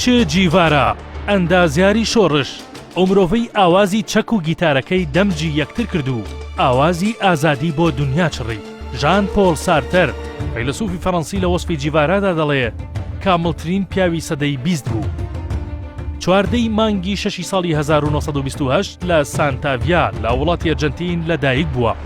چێ جیڤارا، ئەندازیاری شۆڕش، ئەومرۆڤەی ئاوازی چەک و گیتارەکەی دەمجی یەکتر کرد و ئاوازی ئازادی بۆ دونیا چڕی. ژان پۆڵ سارتەر، فەیلەسوفی فەرەنسی لە وەسفی جیڤارادا دەڵێ کامڵترین پیاوی سەدەی بیست بوو. چواردە ی مانگی شەشی ساڵی هەزار و نۆ سەد و بیست و هەشت لە سانتاڤیا لە وڵاتی ئەرجەنتین لە دایک بووە.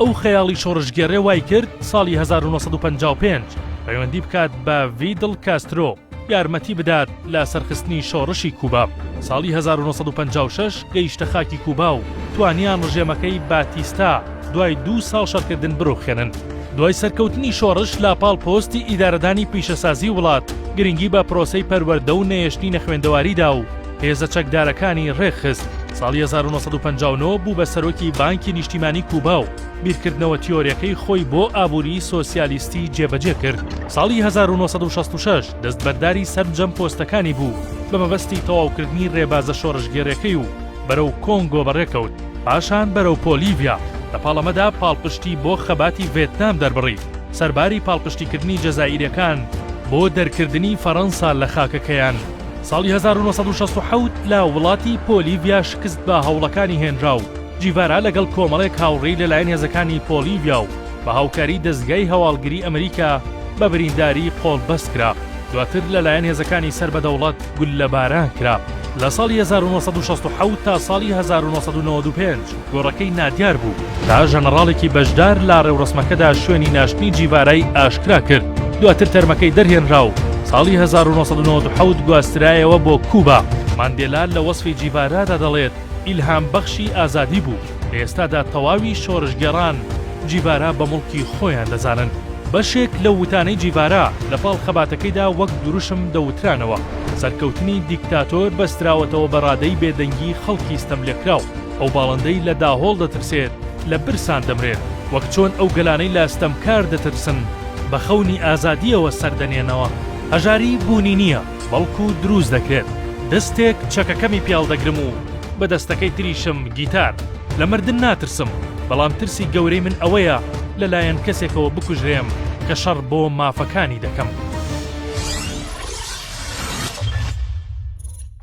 ئەو خەیاڵی شۆڕشگێڕێ وای کرد ساڵی 1955 پەیوەندی بکات بە ڤیدڵ کاسترۆ یارمەتی بدات لە سەرخستنی شۆڕشی کوبا ساڵی 1956 گەیشتە خاکی کوبا و توانیان ڕژێمەکەی باتیستا دوای دوو ساڵ شەڕکردن بڕوخێنن. دوای سەرکەوتنی شۆڕش لە پاڵ پۆستی ئیدارەدانی پیشەسازی وڵات گرنگی بە پرۆسەی پەروەردە و نەهێشتنی نەخوێندەواریدا و هێزە چەکدارەکانی ڕێکخست، ساڵی هەزار و نۆ سەد و پەنجا و نۆ بوو بە سەرۆکی بانکی نیشتیمانی کوبا و بیرکردنەوە تیۆریەکەی خۆی بۆ ئابووریی سۆسیالیستی جێبەجێ کرد، ساڵی هەزار و نۆ سەد و شەست و شەش دەستبەرداری سەرجەم پۆستەکانی بوو بە مەبەستی تەواوکردنی ڕێبازە شۆڕشگێڕیەکەی و بەرەو کۆنگۆ بەڕێکەوت، پاشان بەرەو پۆلیڤیا، لە پاڵەمەدا پاڵپشتی بۆ خەباتی ڤێتنام دەربڕی، سەرباری پاڵپشتیکردنی جەزائیرەکان بۆ دەرکردنی فەرەنسا لە خاکەکەیان. ساڵی هەزار و نۆ سەد و شەست و حەوت لە وڵاتی پۆلیڤیا شکست بە هەوڵەکانی هێنرا و جیڤارا لەگەڵ کۆمەڵێک هاوڕێی لەلایەن هێزەکانی پۆلیڤیا و بە هاوکاری دەزگای هەواڵگری ئەمریکا بە برینداری قۆڵبەست کرا دواتر لەلایەن هێزەکانی سەر بە دەوڵەت گوللەباران کرا لە ساڵی هەزار و نۆ سەد و شەست و حەوت تا ساڵی هەزار و نۆ سەد و نەوەد و پێنج. گۆڕەکەی نادیار بوو تا ژەنەڕاڵێکی بەشدار لە ڕێوڕەسمەکەدا شوێنی ناشتنی جیڤارای ئاشکرا کرد، دواتر تەرمەکەی دەرهێنرا و ساڵی هەزار و نۆ سەد و نەوەد و حەوت گواسترایەوە بۆ کوبا. ماندێلا لە وەسفی جیڤارادا دەڵێت، ئیلهامبەخشی ئازادی بوو، لە ئێستادا تەواوی شۆڕشگێڕان جیڤارا بە موڵکی خۆیان دەزانن. بەشێک لە وتانەی جیڤارا لە پاڵ خەباتەکەیدا وەک دروشم دەوترانەوە، سەرکەوتنی دیکتاتۆر بەستراوەتەوە بە ڕادەی بێدەنگی خەڵکی ستەملێکراو. ئەو باڵندەی لە داهۆڵ دەترسێت لە برسان دەمرێت، وەک چۆن ئەو گەلانەی لە ستەمکار دەترسن بە خەونی ئازادییەوە سەر دەنێنەوە. هەژاری بوونی نییە، بەڵکو دروست دەکرێت. دەستێک چەکەکەمی پێڵ دەگرم و بە دەستەکەی تریشم گیتار. لە مردن ناترسم، بەڵام ترسی گەورەی من ئەوەیە لەلایەن کەسێکەوە بکوژرێم کە شەڕ بۆ مافەکانی دەکەم.